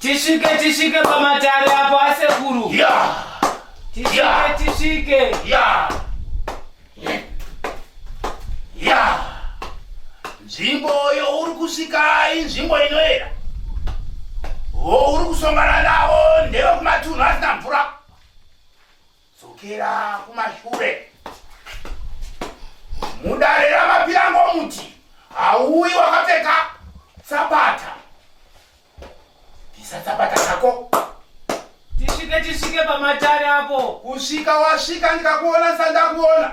Tishike tishike pamatare apo asekuru. Yeah. Tishike yeah. tishike. Yeah. Yeah. Nzvimbo yo uri kusvika inzvimbo inoera. Wo uri kusongana navo ndeve kumatunhu asina mvura. dzokera kumashure mudare ramapirango muti hauyi wakapfeka tsapata bvisa tsapata dzako tisvike tisvike pamatare apo kusvika wasvika ndikakuona sandakuona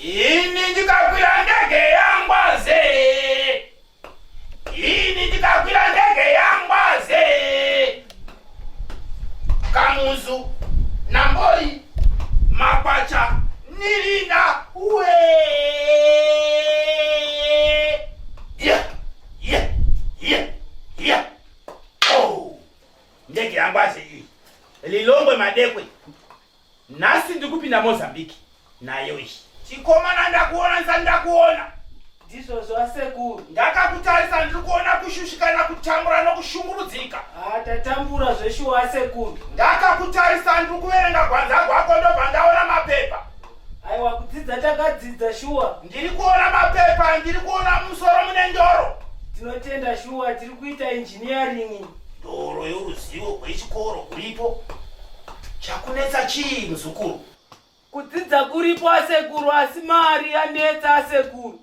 Ini ndikakwira ndege yangwaze. Ini ndikakwira ndege yangwaze. Kamuzu, Nambori, Makwacha, Nirina, we. Yeah, yeah, yeah, yeah. Oh, ndege yangwaze iyi. Lilongwe madekwe. Nhasi ndikupinda Mozambique nayo iyi. Chikomana ndakuona nsa ndakuona. Ndizvo zvasekuru. Ndakakutarisa ndiri kuona kushushikana kutambura nokushungurudzika. Ah, tatambura zveshuwa sekuru. Ndakakutarisa ndiri kuverenga gwanza gwako ndobva ndaona mapepa. Aiwa kudzidza takadzidza shuwa. Ndiri kuona mapepa, ndiri kuona musoro mune ndoro. Tinotenda shuwa tiri kuita engineering. Doro yoruzivo rwechikoro kuripo. Chakunetsa chii muzukuru? Kudzidza kuripo asekuru asi mari yanetsa asekuru.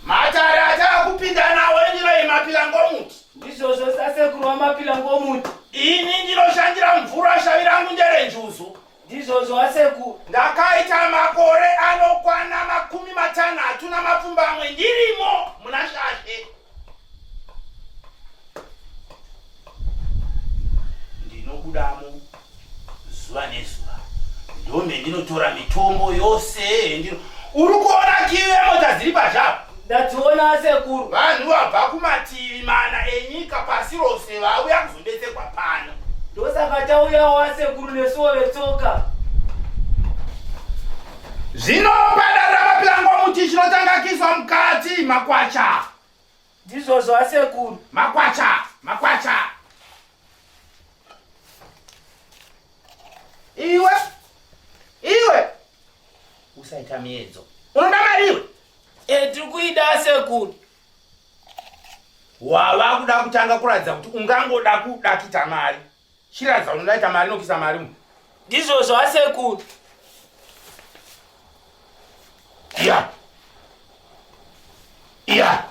Matare atava kupinda nawo endiro yemapilangomuti. Ndizvozvo sasekuru wamapilangomuti. Ini ndinoshandira mvura shavi rangu ndere njuzu. Ndizvozvo asekuru. Ndakaita makore anokwana makumi matanhatu namapfumbamwe ndirimo muna shashe. ndinobudamo zuva nezuva ndome ndinotora mitombo yose ndino uri kuona kive mota dziri pazhava ndationa sekuru vanhu vabva kumativi mana enyika pasi rose vauya kuzobetserwa pano ndosaka tauyawo asekuru nesuwo vetsoka Zvino padare ramapirangwa muti chinotanga kiswa mukati makwacha. Ndizvozvo asekuru. Makwacha, makwacha. Iwe, iwe. Usaita miedzo. Unoda mari iwe? E, tiri kuida asekuru. Wava kuda kutanga kuratidza kuti ungangoda kuda kuita mari. Chiradza unodaita mari nokisa mari mu. Ndizvo zvasekuru. Yeah. Yeah.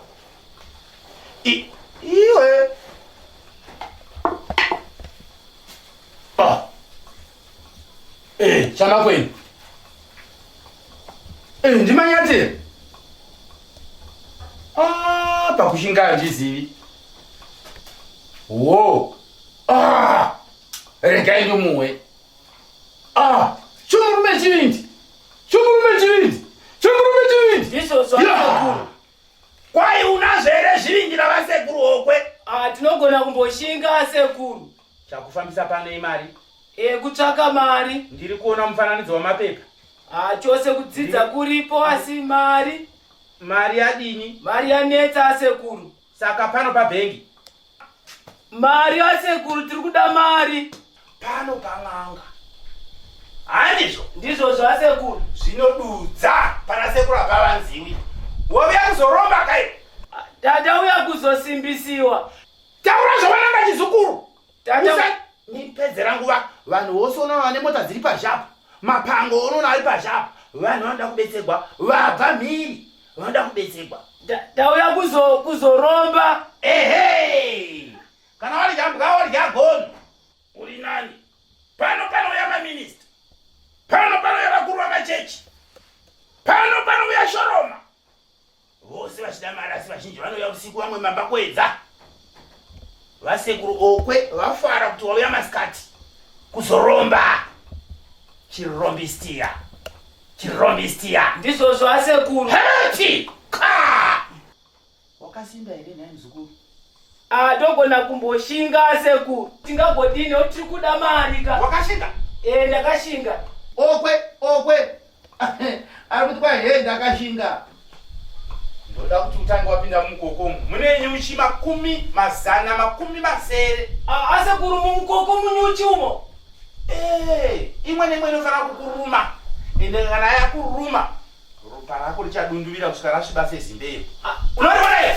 I iwe. Ah. Eh, chama kwenu. Eh, ndimanyatire. Ah, pakushinga handizivi. Whoa. Ah! Regai ndomuwe. Ah! Chomurume chivindi. Chomurume chivindi. Chomurume chivindi. Iso so. Yeah. Kwai unazvo here zvivindi navasekuru hokwe? Ah, tinogona kumboshinga asekuru. Chakufambisa pano imari? E, kutsvaka mari. Ndiri kuona mufananidzo wamapepa. Ah, chose kudzidza kuripo asi mari. Mari yadini? Mari yanetsa asekuru. Saka pano pabhengi. Mari yasekuru tiri kuda mari. Pano pan'anga. Handizvo? Ndizvo zvasekuru. Zvinodudza pana sekuru apavanziwi. Wovya kuzoromba kai? Tata uya kuzosimbisiwa. Taura zvawananga chizukuru. tatandipedzera nguva vanhu vose unoona vane mota dziri pazhapo mapango unoona ari pazhapo vanhu vanoda kubetserwa vabva mhiri vanoda kubetserwa tauya kuzoromba ehe kana wadya mbwa wadya gono uri nani pano panouya maminista pano panouya vakuru vamachechi pano panouya shoroma vose vachida mari asi vazhinji vanouya usiku vamwe mamba kuedza vasekuru okwe vafara kuti wauya masikati kuzoromba chirombistiya chirombistiya ndizvozvo asekuru heti ka wakasimba here nhai muzukuru atogona ah, kumboshinga asekuru tingagodini otiri kuda mari ka wakashinga ee eh, ndakashinga okwe okwe ari kuti kwai hee ndakashinga ndoda kuti utange wapinda mumukokomu mune nyuchi makumi mazana makumi masere asekuru mumukoko munyuchi umo Eh, imwe neimwe inofanira kukuruma ende kana yakuruma ropa rako richadunduvira kusvika rasviba sezimbeyo unoriona iye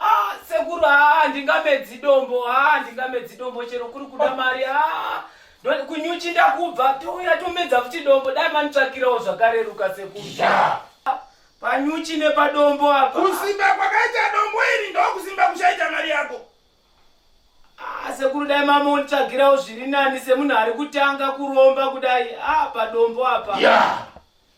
Ah, sekuru haa ah, ndingamedzi dombo haa ah, ndingamedzi dombo chero kuri kuda mari haa ah, kunyuchi ndakubva touya tomedza futi dombo dai manitsvakirawo zvakareruka sekuru yeah. panyuchi nepadombo apa kusimba kwakaita dombo iri ndokusimba kuchaita mari yako sekuru dai mama unditsvagirawo zviri nani semunhu ari kutanga kuromba kudai a padombo apa yeah.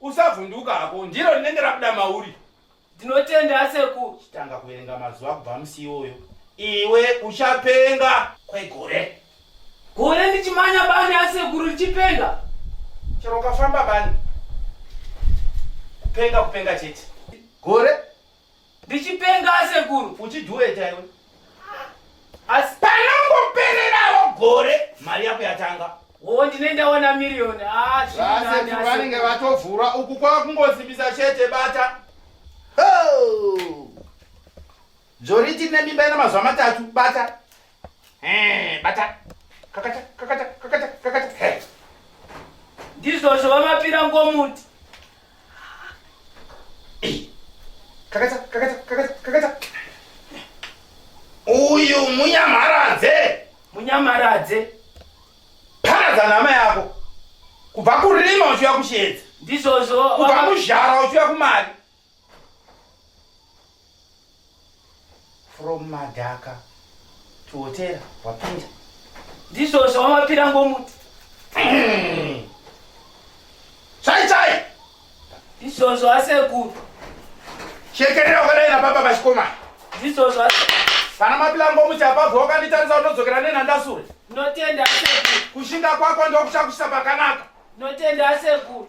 Usavhunduka hako, ndiro rinenge rabuda mauri. Ndinotenda aseku. Chitanga kuverenga mazuva kubva musi iwoyo. Iwe uchapenga kwegore. Gore ndichimanya bani asekuru richipenga. Chero ukafamba bani. Kupenga kupenga chete. Gore Ndichipenga asekuru. Uchidueta iwe. Asi panongopererawo gore mari yako yatanga. Wo ndine ndaona million. Ah, zviri nani. Vanenge vatovhura uku kwa kungozimbisa chete bata. Oh! Joriti ne mimba ina mazuva matatu bata. Eh, bata. Kakata, kakata, kakata, kakata. Hey. Ndizvo zvo vamapira ngomuti. Eh. Kakata, kakata, kakata, kakata. Uyu munyamaradze. Munyamaradze. Paradza nama yako. Kubva kurima uchiuya kushedza. Ndizvo zvo. Kubva kuzhara uchiuya kumari. from madhaka to hotera wapinda ndizvo zvawamapira ngomuti chai chai ndizvozvo asekuru shekerera wakadai nababa vachikomana ndizvozvo pana mapilango muti apabva wakanditarisa unodzokera nenhandasure ndinotenda asekuru kushinga kwako ndokuchakuisa pakanaka ndinotenda asekuru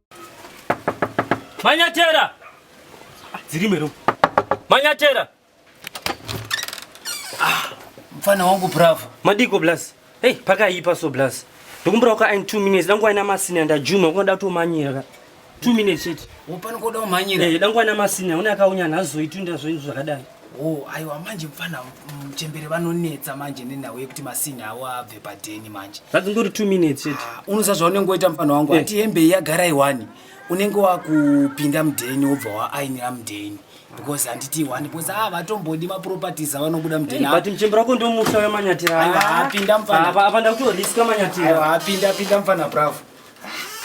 Manyatera! Ah, dziri mero. Manyatera! Ah, mfana wangu bravo. Madiko blaz. Hey, paka ipa so blaz. Ndokumbura uka in 2 minutes. Dangu aina masini anda Juma ukonda to manyira. 2 minutes chete. Upani koda umanyira. Eh, dangu aina masini. Unaka unyana azoitunda zvinhu zvakadai. Oh, aiwa manje mfana mchembere vanonetsa manje nenhau yekuti masini awo abve padheni manje. Zvadzingori 2 minutes chete. Ah, unoza zvaunenge woita mfana wangu eh. ati hembe yagara iwani. Unenge wakupinda mudheni wobva waainira mudheni. Because handiti iwani because ah vatombodi ma properties avanobuda mudheni. Hey, eh, but mchembere wako ndio musa wa manyatira. Aiwa apinda mfana. Apa apa ndakuto risk manyatira. Aiwa apinda apinda mfana bravo.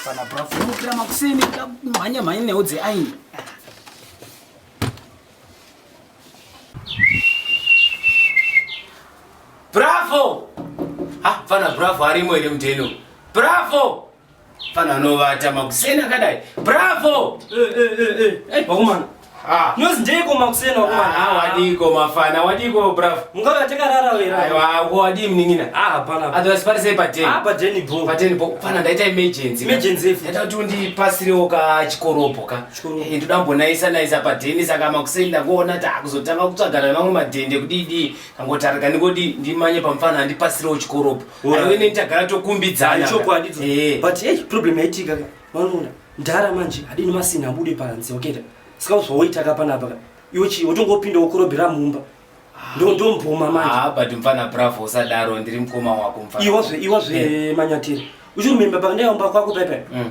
Mfana bravo. Unokira makuseni kamhanya mhanya neudze aini. Bravo! Ah, fana bravo arimo ere muteno. Bravo! Fana anovata makuseni akadai. Bravo! Eh eh eh eh. Eh, bakumana. Ah. Nozi ndiko makuseni wakumana. Ah, wadiko mafana, wadiko bravo. Mungava takarara wera. Aiwa, uko wadii mningina. Ah, hapana. Otherwise pari sei pateni. Ah, pateni bro. Pateni bro. Fana ndaita emergency. Emergency. Ndaita kuti undipasirewo ka chikoropo ka. Hey, ndoda kumbonaisa naisa padennis akama kuseni ndakuona takuzotanga kutsvagana vamwe madhende kudidii kangotarika ndingodi ndimanye pamufana andipasirewo chikoropo aiwe neni tagara tokumbidzana chokwadi eh. but hey, problem yaitika vanoona ndara manje adini masina abude panze oketa saka zvaoita ka panapa iwe chii wotongopinda wokorobhera mumba ndondomboma manje ah, but mfana bravo usadaro ndiri mukoma wako mfana iwazve iwazve eh. manyatiri uchirumemba pakandaiomba kwako paipai mm.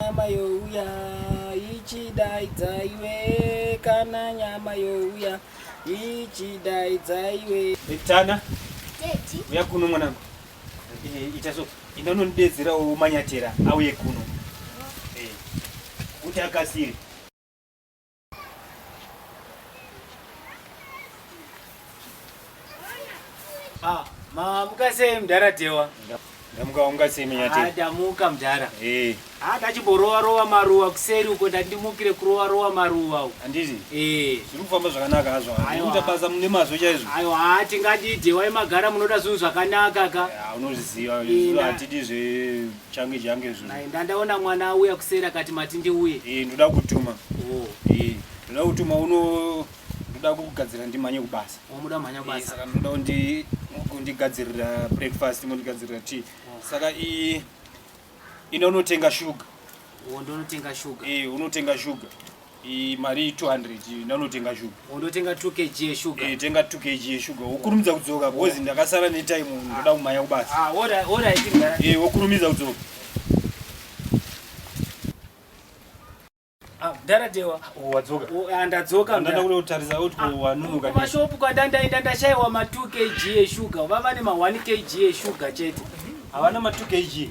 Nyama youya ichidaidza iwe kana nyama youya ichidaidza iwe. Tana. Teti. Uya kuno mwanangu. Eh, ita so. Inda unondidedzera umanyatera auye kuno. Eh. Kuti akasire. Ah, ma mukasei mdara Dhewa? Ndamuka unga sei munyati? Ah, ndamuka mdara. Eh. Ah, ndachiborova rova maruwa kuseri uko ndandimukire kurova rova maruwa uko. Andizi? Eh. Zviri kufamba zvakanaka hazvo. Unoita basa mune mazvo chaizvo. Ayo, ah, tingati Dhewa imagara munoda zvinhu zvakanaka ka. Ah, unozviziva. Izvo hatidi zve change change izvozvo Nai, ndandaona mwana auya kuseri akati mati ndiuye Eh, ndoda kutuma oh. Eh, ndoda kutuma uno ndoda kugadzira ndimhanye kubasa wamuda mhanya Eh, basa saka ndoda kundi- kundigadzirira breakfast mondigadzirira tea saka i ina unotenga shuga oh, ndonotenga shuga Eh, unotenga shuga Iyi mari 200 iyi ndanotenga shuga. Undotenga 2 kg yeshuga. Eh tenga 2 kg yeshuga. Wokurumidza kudzoka because ndakasara ne time ndoda kumhanya kubasa. Ah, ora ora itinga. Eh wokurumidza kudzoka. Ah, dara dewa. Oh, wadzoka. Oh, ah, ndadzoka. Ndanda kule utarisa out kwa ah, wanunuka. Kwa shop kwa danda enda ndashaiwa ma 2 kg yeshuga. Vava ne ma 1 kg yeshuga chete. Hawana ma 2 kg.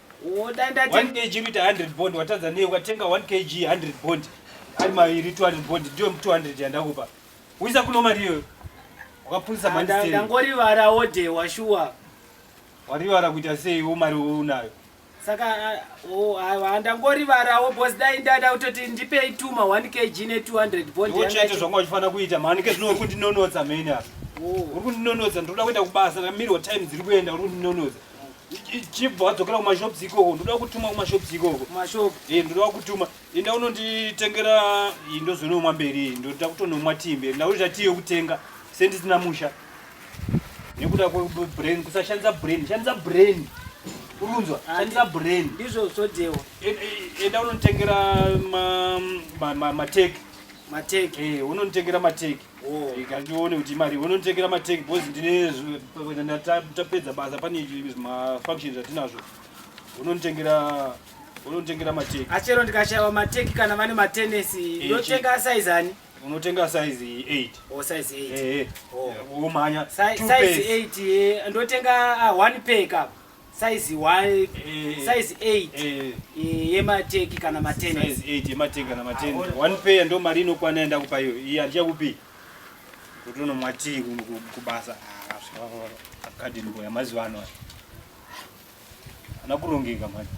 Wodanda 1 kg ita 100 bond watadza nei ukatenga 1 kg 100 bond ari mairi 200 bond ndiyo 200 yandakupa. Uisa kuno mari iyoyo. Wakapunzisa manje sei? Ndangorivara wode washuwa. Warivara kuita sei wo mari unayo? Saka oh aiwa ndangorivara wo boss dai ndada utoti ndipei tuma 1 kg ne 200 bond yanga. Uchaita zvanga uchifana kuita mani ke zvinokuti nonodza mheni apa. Oh. Uri kundinonodza ndoda kuenda kubasa kamiri wa time dziri kuenda uri kundinonodza. chibva wadzokera kumashops ikoko ndoda kutuma kumashops ikoko mashop eh ndoda kutuma enda unonditengera indozonomwa mberi ndoda kutonomwa timbe ndakuita tii yokutenga sendisina musha nekuda kwebrain kusashandisa brain shandisa brain urunzwa ah, shandisa brain ndizvo zvodewa enda unonditengera mateki mateki eh unonditengera mateki Rega ndione kuti imari unonditengera mateki bos ndine tapedza basa pane mafunctions atinazvo unonditengera unonditengera mateki achero ndikashaiwa mateki kana vane matenesi ndotenga size ani unotenga size 8 o size 8 omhanya size 8 ndotenga one pack apa size 1 size 8 yemateki kana matene size 8 yemateki kana matene one pair ndo mari inokwana enda kupa iyo iyi handichakupi utono mwatii kubasa academy boy amazuva ano ana kurongeka manje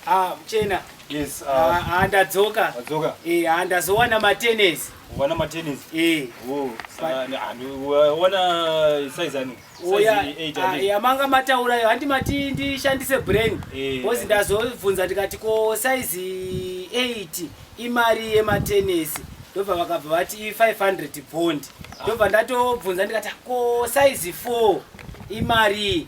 Ah, mchena. Yes, uh, ah, ah, ndadzoka. Ndadzoka. Eh, ah, ndazowana matennis. Wana matennis? Eh. Oh, wana size ani? Oya, ah, yamanga mataura yo, handi mati ndishandise brain. Eh. Bozi ndazovhunza ndikati ko size 8 imari yematennis. Ndobva vakabva vati 500 bond. Ndobva ndatobvunza ndikati ko size 4 imari.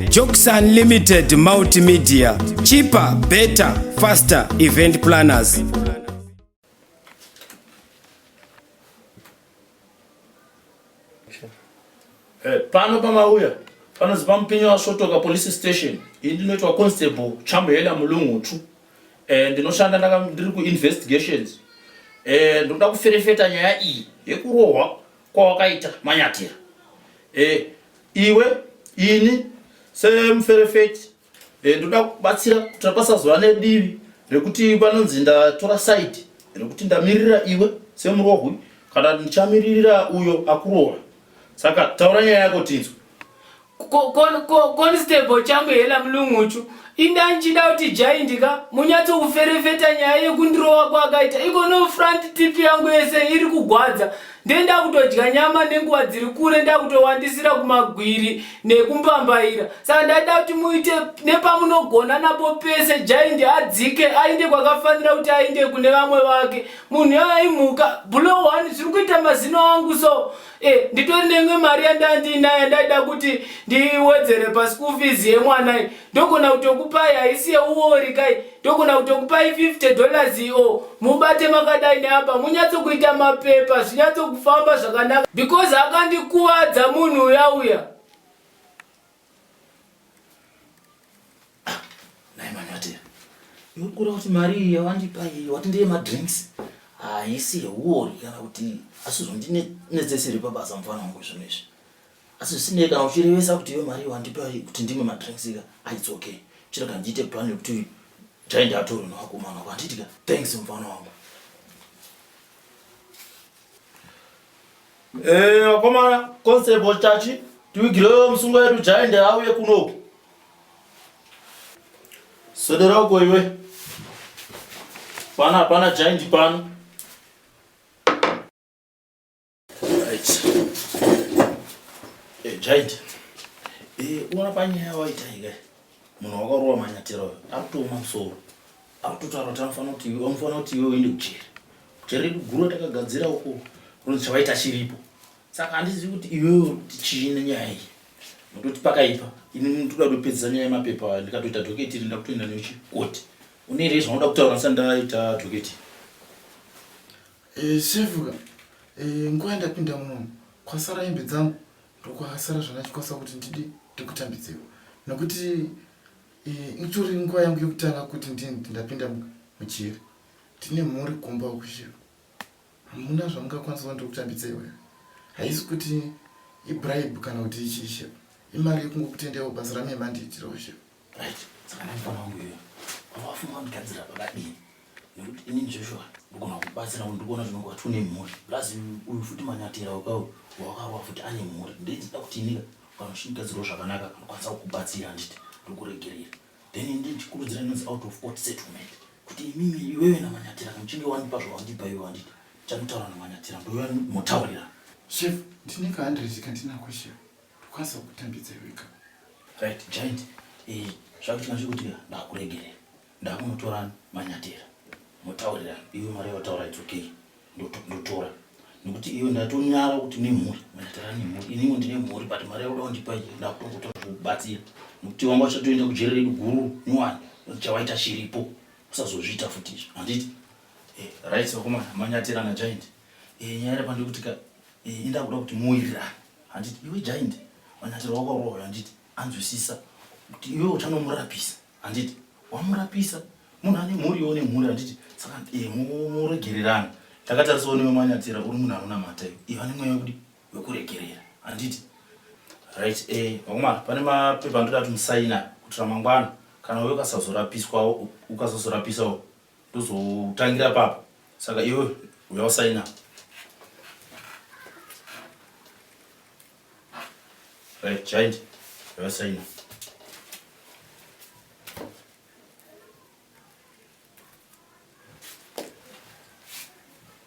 Jokes Unlimited Multimedia, cheaper, better, faster event planners. Eh, pano pamauya panonzi pamupinyi wasvotoka police station ini ndinoitwa constable chamhela mulungutsvu um eh, ndinoshanda ndiri kuinvestigations um eh, ndinoda kuferefeta nyaya iyi yekurohwa kwawakaita manyatira e, iwe ini semuferefeti e, ndoda kubatsira kuti pasazova nedivi rekuti panonzi ndatora saidi rekuti ndamirira iwe semurohwi kana ndichamiririra uyo akuroora saka taura nyaya yako tinzwe constable changu hela mulunguchu inda ndichida kuti jaindi ka munyatso kuferefeta nyaya yekundirova kwakaita iko no front tip yangu yese iri kugwadza nde ndakutodya nyama nenguva dziri kure ndakutowandisira kumagwiri nekumbambaira saka ndaida kuti muite nepamunogona napo pese jaindi adzike ainde kwakafanira kuti ainde kune vamwe vake munhu yoyo imhuka blo one zviri kuita mazino angu so Eh, nditori neimwe mari yandai ndiinayo ndaida kuti ndiwedzere paschool fees yemwanai ndogona kutokupai haisi yeuori kai ndogona kutokupai 50 dollars io mubate makadai neapa munyatsokuita mapepa zvinyatsokufamba zvakanaka because akandikuvadza munhu uya uya Nai manyatea, urikura kuti mari iyi yawandipa iyi wati ndeye madrinks haisi ah, yeuori kana kuti asi zvondinetseseri pabasa mufana wangu zvinhu izvi asi zvisinei kana uchirevesa kuti iyo mari wandipa kuti ndimwe madrinks ika aits ah, okay chiro kana ndiite plan yekuti taenda atoro newakomana wako handiitika thanks mufana wangu Eh, vakomana constable chachi tiwigirewo musungo yedu jaende auye kunoku swedera uko iwe pana hapana jaindi pano right eh, jaindi eh, uona panyaya waitaika munhu wakarova manyatera uyo akutooma musoro akutotaura kuti anofanira kuti iwe anofanira kuti iwe uende kucheri kucheri redu guru takagadzira uko unonzi chavaita chiripo saka handizivi kuti iwewe uri kuti chii nenyaya iyi nototi pakaipa ini ndoda kutopedzisa nyaya yemapepa ndikatoita dhoketi iri ndakutoenda neuchi koti une here zvaunoda kutaura ndisati ndaita dhoketi eh, sevuka eh, nguva yandapinda munomu kwasara hembe dzangu ndokwasara zvandachikwasa kuti ndidi ndikutambidzewo nokuti eh, itori nguva yangu yekutanga kuti ndini ndapinda mujeri tine mhuri kumba ukushiva hamuna zvamungakwanisa kuti ndikutambidzewo here haisi kuti ibribe kana kuti ichiishe imari yekungokutendewo basa ramemandiyitirawo shiva right saka ndafana wangu iwe wawafunga kundigadzira pakadini nekuti ini joshua ndogona kubatsira kuti ndikuona zvinonge wati une mhuri plus uyu futi manyatira wakawo wakarowa futi ane mhuri ndinzida kuti inika kana uchindigadzirawo zvakanaka kanokwanisa kukubatsira handiti ndokuregerera then ndikurudzira inonzi out of court settlement kuti imimi iwewe namanyatira kamuchinge wandipa zvawandipa iwe wanditi chanditaura namanyatira ndoya motaurira chef ndineka handrezika ndinakweshewa Kwanisa kutambidza iwe ka. Right, giant. Eh, zvakuti manje kuti ndakuregere. Ndakunotora manyatera. Mutaurira iwe mari yataura it's okay. Ndotora. Nekuti iwe ndatonyara kuti ne mhuri. Manyatera ne mhuri. Ini ndine mhuri but mari yakuda kundipa iyi ndakutokutora kubatsira. Nekuti wanga uchatoenda kujere redu guru nyowani. Chawaita chiripo. Usazozviita futi izvo. Handiti? Eh, right, wakomana manyatera na giant. Eh, nyaya iri pandikuti ka Ini ndakuda kuti moira handiti iwe giant manyatiro wakarova handiti anzwisisa kuti iwe uchanomurapisa handiti wamurapisa munhu ane mhuri iwe une mhuri handiti saka eh, mu- muregererana ndakatarisa unewe manyatira uri munhu anonamata iwe iwe ane mweya wekudi wekuregerera handiti right eh, vakomana pane mapepa andoda kuti musaina kuti ramangwana kana uye ukasazorapiswawo ukasazorapisawo ndozotangira papo saka iwe uya usaina right giant uya usaina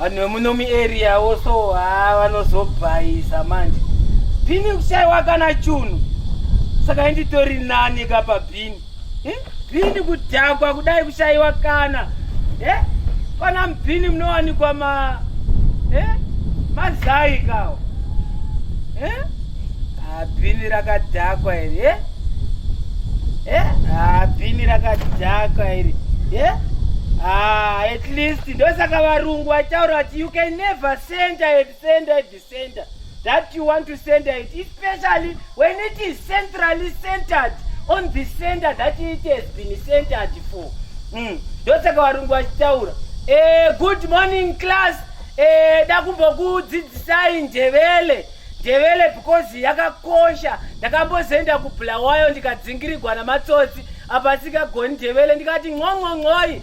vanhu vemuno muarea wo so ha vanozobhaisa manje bhini kushaiwa kana chunhu saka inditori nani ka pabhini Bhini kudhakwa kudai kushaiwa kana eh? Pana mbhini munowanikwa ma eh? mazai kawo eh? Ah, bhini rakadhakwa iri eh? Eh? Ah, bhini rakadhakwa iri eh? Ah, at least ndosaka varungu vataura kuti you can never send a send a Center that you want to send it, especially when it is centrally centered on the center that it has been centered for. Mm. Ndosaka varungu vachitaura. Eh, good morning class. Eh, dakumbokudzidzisai ndevele. Ndevele because yakakosha. Ndakambozoenda kubulawayo ndikadzingirigwa namatsotsi. Apa sikagoni ndevele ndikati nqonqonqoi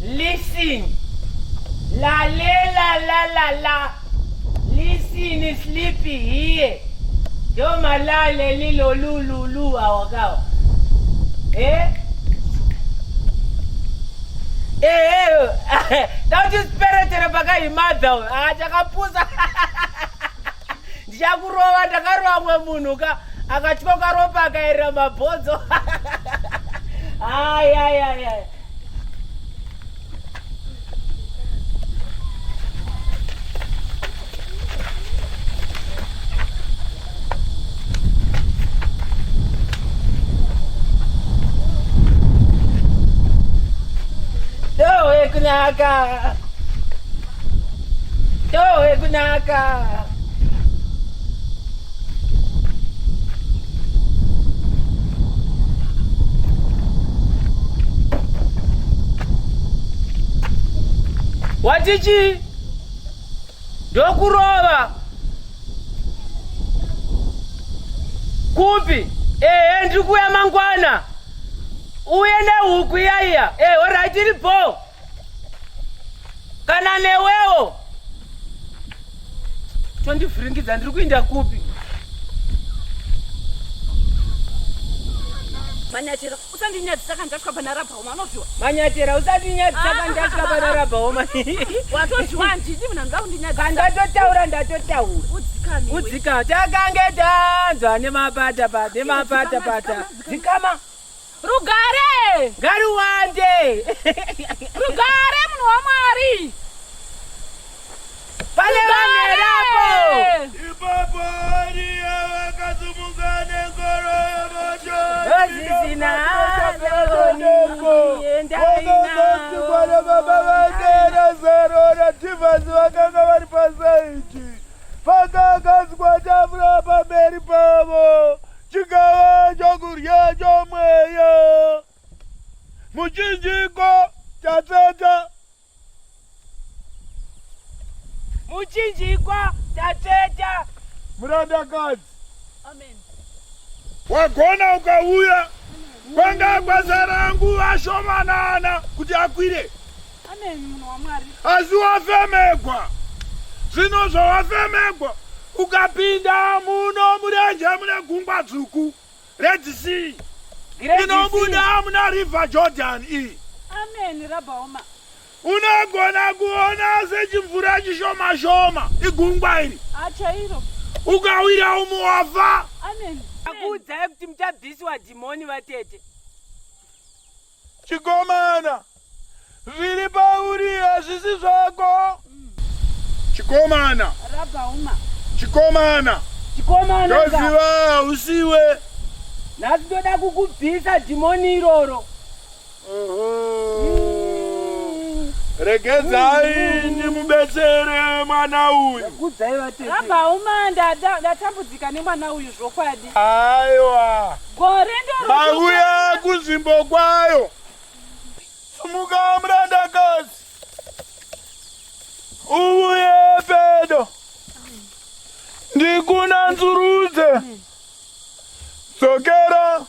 Listen. La le la la la la. Listen is sleepy here. Yo malale lilo lulu lu awakawa. Eh? Eh, eh, eh. Don't you spirit in a bagay mother. Ah, jakapusa. ndichakurova ndakarova mwe munhu ka akatyoka ropa akaerera mabhonzo ayayaya Yo, eh, kunaka. Yowe kunaka. Watichi ndokurova kupi? Ehe, ndiri kuuya mangwana. Uye nehuku iya iya. Ehe, horaiti iripo. kana newewo tondivhiringidza ndiri kuinda kupi manyatera usandinyadzisa kandatya pana rabhaoma anozviwa manyatera usandinyadzisa ah. kandatya pana rabhaoma watozviwa handidi mna ndoda kundinyadzisa kandatotaura ndatotaura udzikama takange tanzwa nemapata nemapata pata dzikama Rugare! Ngaruwande! Rugare munhu waMwari! Pane vanerapo! Ipapo Ariya vakasumuka nengoro yemoto Vazvisina Vakazosi kwana baba vake Razaro naTivhasi vakanga vari pasaiti. Pakakanzwa tafura pamberi pavo. chigava chokudya chomweya muchinjiko chatseta muchinjikwa tatseta murandakadzi amen wagona ukauya kwanga kwazara nguva shomanana kuti akwire asi wafemegwa zvino zvawafemegwa ukapinda muno murenje mune gungwa dzvuku red sea inobuda muna river jordan iyi unogona kuona sechimvura chishoma shoma igungwa iri ukawira umwe wafa akuudzai kuti muchabviswa dhimoni vatete Chikomana, zviri pauri hazvisi zvako. Chikomana. Rabhauma. Chikomana. Chikomana. Ndoziva hausiwe. Nhasi ndoda kukubvisa dhimoni iroro. Regedzai ndimubetsere mwana uyu. Rabhauma, ndatambudzika nemwana uyu zvokwadi. Aiwa. Gore ndoro. Mauya kunzvimbo kwayo. Sumuka murandakazi. Uye pedo. Ndikuna nzurudze. Dzokera.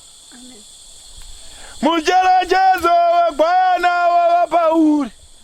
Mucherechedzo wegwayana wava pauri.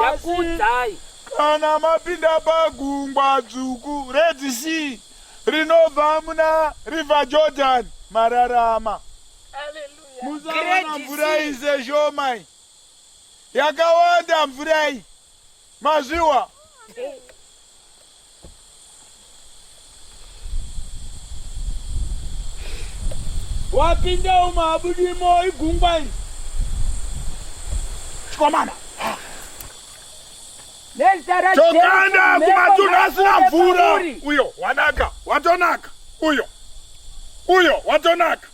ndakuudzai kana mapinda pagungwa dzvuku red sea rinobva muna river jordan mararama musaona mvura iyi seshomai yakawanda mvura iyi mazviwa wapinda umo abudimo igungwa iri chikomana tokanda kumatunhu asina mvura uyo wanaka watonaka uyo uyo watonaka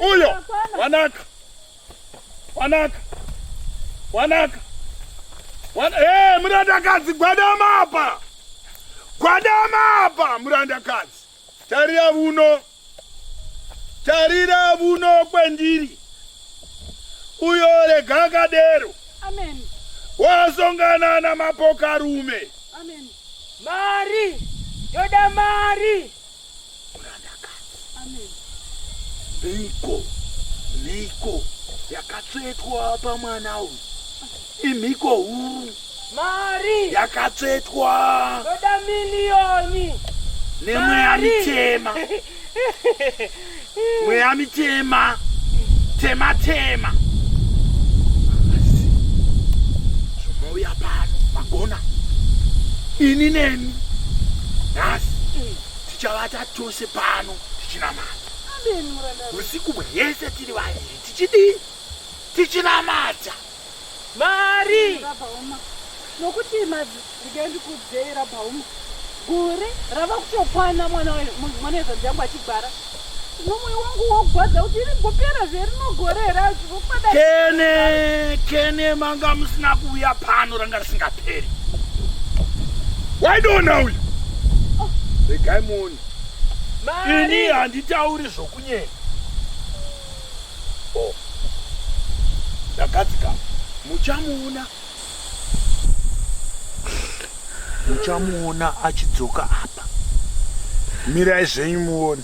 Uyo wanaka wanaka wanaka wan hey, eh, murandakadzi gwadama apa gwadama apa murandakadzi tarira vuno tarira vuno kwendiri uyo rega akadero wasongana namapokarume mari yoda mari mhiko mhiko yakatsvetwa pamwana uyu imhiko huru mari yakatsvetwa toda miliyoni nemweya mitema mweya mitema tema tema zvomouya pano magona ini nemi nhasi tichavata tose pano tichinamata usiku hwese tiri vaviri tichidii tichinamata mari rabhauma nokuti mazidike ndikudzei rabhauma gore rava kutokwana mwana mwana wezvanzi yangu achigwara nomwe wangu wogwadza kuti iri gopera zverinogore here azvivokada kene kene manga musina kuuya pano ranga risingaperi waidoona uyu oh. regai muoni ini handitauri zvokunyenya Oh. Ndakati ka muchamuona muchamuona achidzoka apa. Mirai zvenyu muone.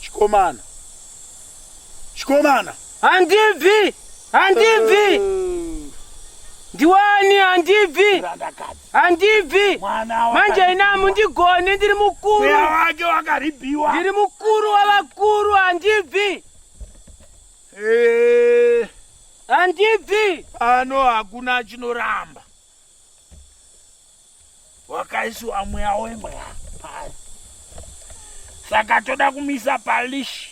Chikomana. Chikomana. Handibvi. Handibvi. Ndiwani handibvi. Handibvi. Manje ina mundigone ndiri mukuru. Mweya wake wakaribiwa. Ndiri mukuru wavakuru handibvi. Eh. Handibvi. Ano hakuna chinoramba. wakaiswa mweya wemweya pari saka toda kumisa palishi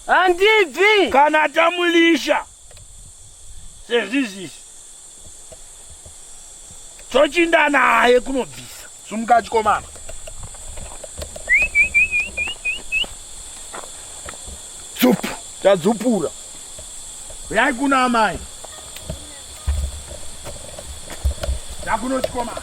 handibvi kana tamulisha sezvizvizvi tochinda naye kunobvisa Sumuka chikomana. Dzupu. Tadzupura. Uyai kuna amai. Takuno chikomana.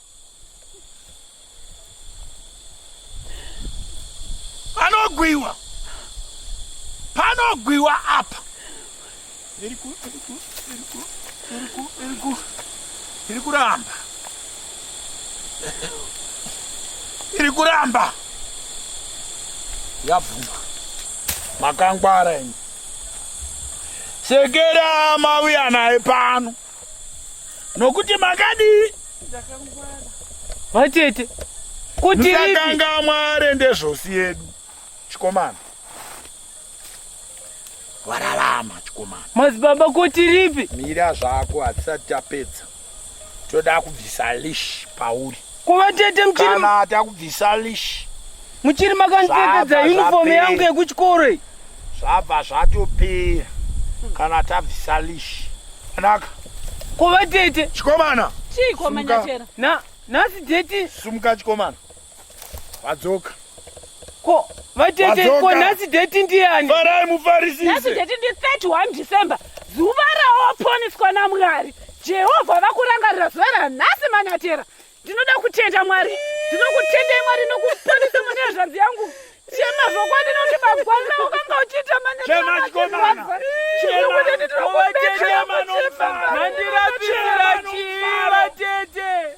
panogwiwa panogwiwa apa iri kuramba iri kuramba yabvuma makangwara ini sekera mauya naye pano nokuti makadii vatete kutisakanga mwari ndezvosi yedu chikomana wararama chikomana madzibaba kuti ripi mira zvako hatisati tapedza toda kubvisa lish pauri Kuva tete mchiri kana takubvisa leash muchiri makandipfekedza uniform yangu yekuchikoro iyi zvabva zvatopera kana tabvisa leash anaka kuva tete chikomana chikomana chera na nhasi deti sumuka chikomana vadzoka Ko vatete ko Wadzoka. nhasi date ndiani? Farai nhasi mufarisise. tete ndi 31 december zuva rawaponiswa namwari jehovha vakurangarira zuva ranhasi manyatera ndinoda kutenda mwari ndinokutendai mwari nokuponesa mune hazvanzi yangu chema zvokwadi nokuti magwanza ukanga uchiita Chema chikomana. Chema. Chema. Chema. Mandirapira chii vatete?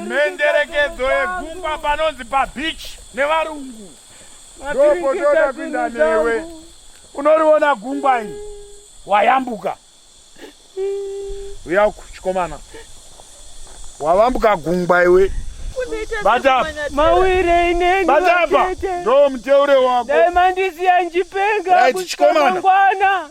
Menderekedzo yegungwa panonzi pabeach nevarungu. Ndopotoda kuinda newe. Unoriona gungwa iri wayambuka. Uya uku chikomana. Wavambuka gungwa iwe. Bata mawire inenge bata apa ndo muteure wako. Dai mandisiya njipenga kuchikomana. Right,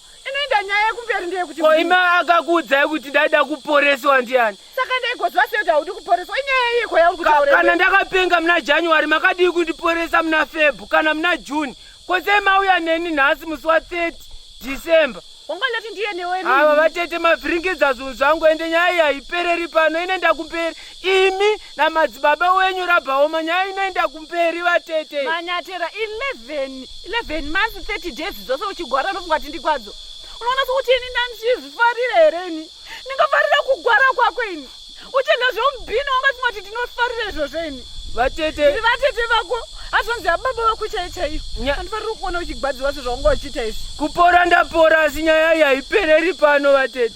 inoenda nyaya yekumberi ndeyekuti ko imi akakuudzai kuti ndaida kuporeswa ndiani saka ndaigoziva sei kuti haudi kuporeswa inyaya yiko yauri kutaura kana ndakapenga muna january makadii kundiporesa muna febhu kana muna june ko sei mauya neni nhasi musi wa 30 december wanga ndati ndiye newe ava vatete mavhiringidza zvinhu zvangu ende nyaya iyi haipereri pano ine ndakumberi imi namadzibaba wenyu rabhaoma nyaya inoenda kumberi vatete manyatera 11 11 months 30 days dzose uchigwara unofunga kuti ndigwadzo unoona sokuti ini ndandizvifarira here ini ndingafarira kugwara kwako ini uchenda zveumubhini wangafunga kuti ndinofarira izvozvo ini vatete iri vatete vako azvanzi ababa vako chaiyo chaiyo andifarira kuona uchigwadziwa sezvaunga uchiita izvi kupora ndapora asi nyaya iyi haipereri pano vatete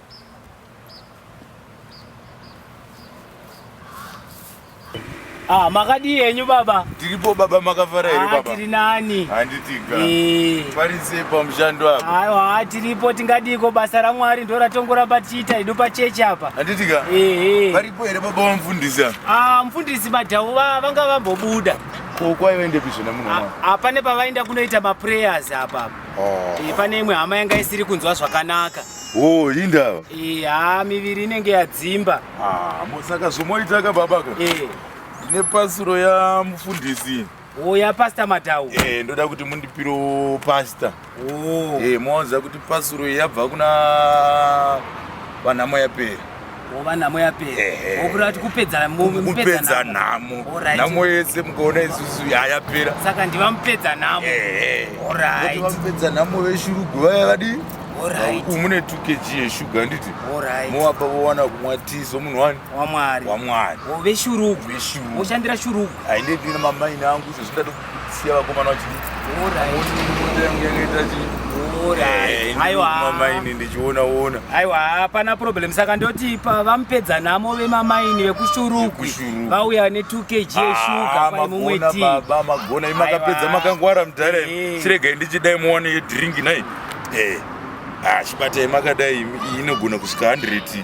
Ah, makadii henyu baba? Tiripo baba, makafara here ah, baba? Tiri nani? Handitika. Eh. Pari sei pamushando apa? Aiwa, ah, tiripo tingadiko basa raMwari ndo ratongoramba tichiita hedu pachechi apa. Handitika. Eh, eh. Varipo here baba vamufundisi apa? Ah, mfundisi madhawu vanga vambobuda. Ko kwaive ndepi zvona muno mwa? Ah, pane pavaenda kunoita maprayers apa. Oh. Eh, pane imwe hama yanga isiri kunzwa zvakanaka. Oh, indava. Eh, ha miviri inenge yadzimba. Ah, mosaka zvomoita ka baba ka. Eh. Ndine pasuro ya mufundisi. Oh, ya pastor Madau. Eh, ndoda kuti mundipiro pastor. Oh. Eh, moza kuti pasuro yabva kuna vanamo yapera. wova nhamo yapera wokureva kuti kupedza kupedza nhamo nhamo yese mukaona isusu yayapera saka ndiva mupedza nhamo orit vamupedza nhamo veshurugu vaya vadii umune 2 kg yeshuga handiti mowapa vowana kumwa ti somunhu wani wamwari wamwari veshurugu veshurugu voshandira shurugu haindedina mamaini angu izvo zvindati siya vakomana vachimamaini eh, ndichionaona aiwa hapana problem saka ndoti vamupedza nhamo vemamaini vekushurukwi vauya ne 2 kg ah, yeshuga paimumwe tibaba magona imakapedza makangwara mudhara eh. chiregai ndichidai muwane yedrink nai eh, ah, chibatai makadai inogona kusvika 100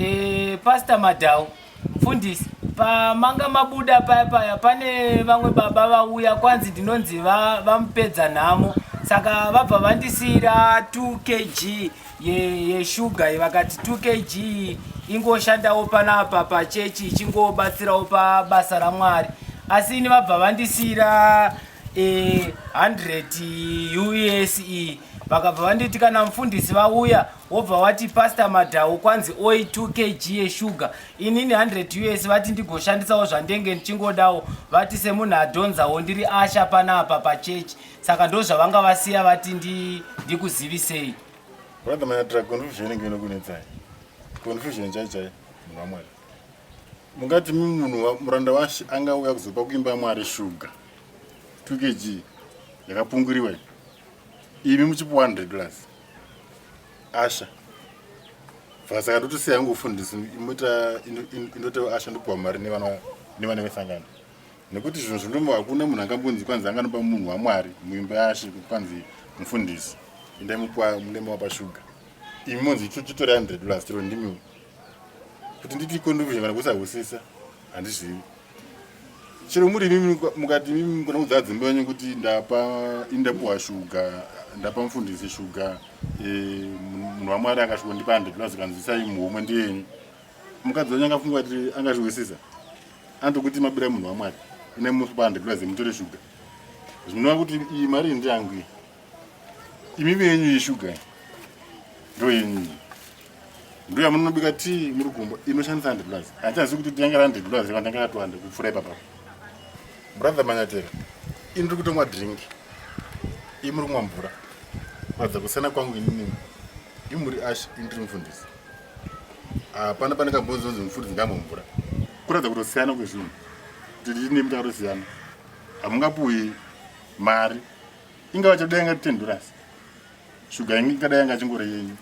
Eh, Pastor Madhawu, mfundisi, pamanga mabuda paya paya pane vamwe baba vauya kwanzi ndinonzi va- vamupedza nhamo saka vabva vandisiira 2 kg ye- yeshuga ye, vakati 2 kg ingoshandawo panapa pachechi ichingobatsirawo pabasa ramwari asi ini vabva vandisiira eh, 100 use vakabva vanditi kana mfundisi vauya wobva wati pastor madhawu kwanzi oi 2 kg yeshuga inini 100 us vati ndigoshandisawo zvandenge ndichingodawo vati semunhu adhonzawo ndiri asha pana apa pachechi saka ndo zvavanga vasiya vati ndikuzivisei brother manatra confusion inenge inokunetsai confusion chai chai munhu wamwari mungati munhu muranda washe angauya kuzopa kuimba yamwari shuga 2 kg yakapunguriwa imi muchipi 100 plus asha vasaka ndotosiya yangu ufundisi imoita indotewa asha ndopiwa mari nevana vesangano nekuti zvinhu zvindomo hakuna munhu angambonzi kwanzi anganopa munhu wamwari muimba yashe kuti kwanzi mufundisi indai mupiwa munema wapashuga imi monzi chitori 100 dollars tiro ndimi kuti nditi contribution kana kusahusisa handizivi chero muri imimi mukati imimi mukona kudzaa dzimba yenyu kuti ndapa ini ndapuwa shuga ndapa mufundisi shuga e, munhu wamwari akasviko ndipa handreplus kanzwisai muhomwe ndiyenyu mukadzi wanyu angafunga kuti angazvihwisisa anotokuti mabira munhu wamwari ine mupa handreplus mutore shuga zvinova kuti iyi mari ndiyangu imimi yenyu iyi shuga ndo yenyu iyi ndoya munobika tii muri gumbo inoshandisa hundred dollars handichazi kuti tinyange ra hundred dollars reva ndanga ratuhande kupfura ipapa brother manyatera ini ndiri kutomwa drink ii muri kumwa mvura kuratidza kusiyana kwangu inini i muri ash ini ndiri mufundisi hapana pane kambonzi onzi mufundisi ngamwe mvura kuratidza kutosiyana kwezvinhu tiine mutaro siyana hamungapuwi mari ingava chadenga ten dollars Shuga yangu ikada yanga chingori yenyu.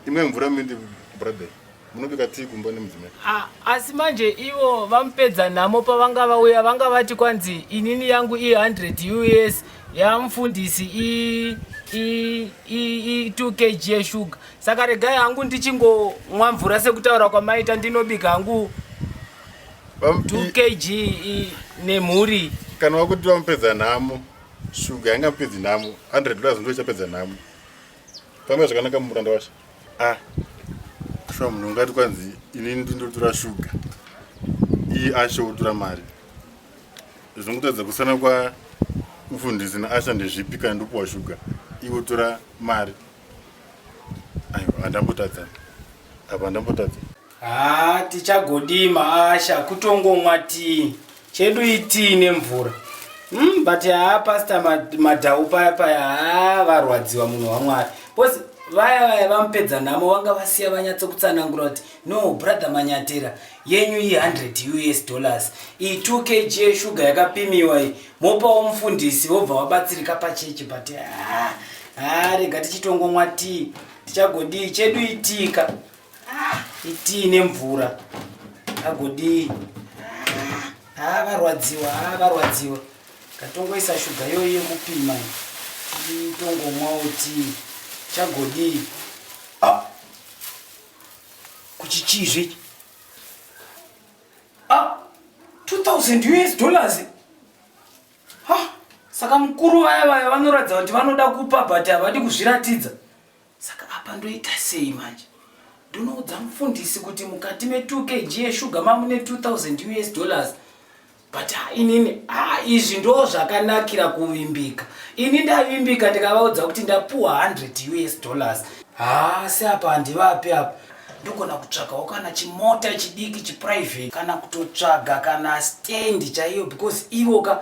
Imwe mvura mindi brother. Munobika tea kumba nemudzimai. Ah, asi manje ivo vamupedza nhamo pavanga vauya vanga vati kwanzi inini yangu i 100 US yamufundisi i i i i 2 kg yeshuga. Saka regai hangu ndichingomwa mvura sekutaura kwamaita ndinobika hangu 2 kg nemhuri. Kana wakuti vamupedza nhamo. Shuga yanga pedzi nhamo 100 dollars ndo chapedza nhamo. Pamwe zvakanaka muranda wacho. Ah. Shuga munhu ungati kwanzi ini ndindotura shuga. Iyi asho utura mari. Zvongotadza kusana kwa mfundisi na asha ndezvipi kana ndopuwa shuga. Iwo tura mari. Ayo andambotadza. Apa andambotadza. Haa tichagodii maasha kutongomwa tii chedu itii nemvura mm, but haa pasta madhau paya paya haa varwadziwa munhu wamwari bcause vaya vaya vamupedza nhamo vanga vasiya vanyatsokutsanangura kuti no brother manyatira yenyu iyi 100 us dollars iyi 2 kg yeshuga yakapimiwa iyi mopawo mufundisi vobva vabatsirika pachechi but haa rega tichitongomwa tii tichagodii chedu itika itii nemvura agodii haa ah, varwadziwa haa ah, varwadziwa katongoisa shuga yoyi yekupima tongomwawo tii chagodii ah! kuchichizve 2000 us dollars saka mukuru vaya vaya vanoratidza kuti vanoda kupa but havadi kuzviratidza Saka apa ndoita sei manje? Ndonoudza mufundisi kuti mukati me 2 kg yeshuga mamune 2000 US dollars but ah, inini ah, izvi ndo zvakanakira kuvimbika ini ndavimbika ndikavaudza kuti ndapuwa 100 us dollars haa ah, se apa handivapi apa ndogona kutsvagawo kana chimota chidiki chiprivate kana kutotsvaga kana stendi chaiyo because ivo ka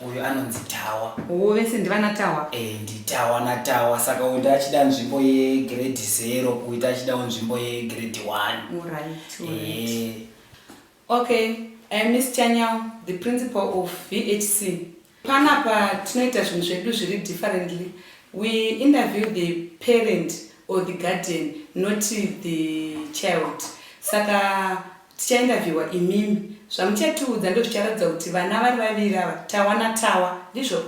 uyu anonzi tawa oh vese ndivana tawa eh nditawa natawa saka uyu ndaachida nzvimbo yegrade zero uyu taachidawo nzvimbo yegrade one alright alright Eh, okay uh, miss chanyao the principal of vhc panapa tinoita zvinhu zvedu zviri differently we interview the parent or the guardian not the child saka Tichaindavhiwa imimi zvamuchatiudza ndozvicharatidza kuti vana vari vaviri ava tawa natawa ndizvo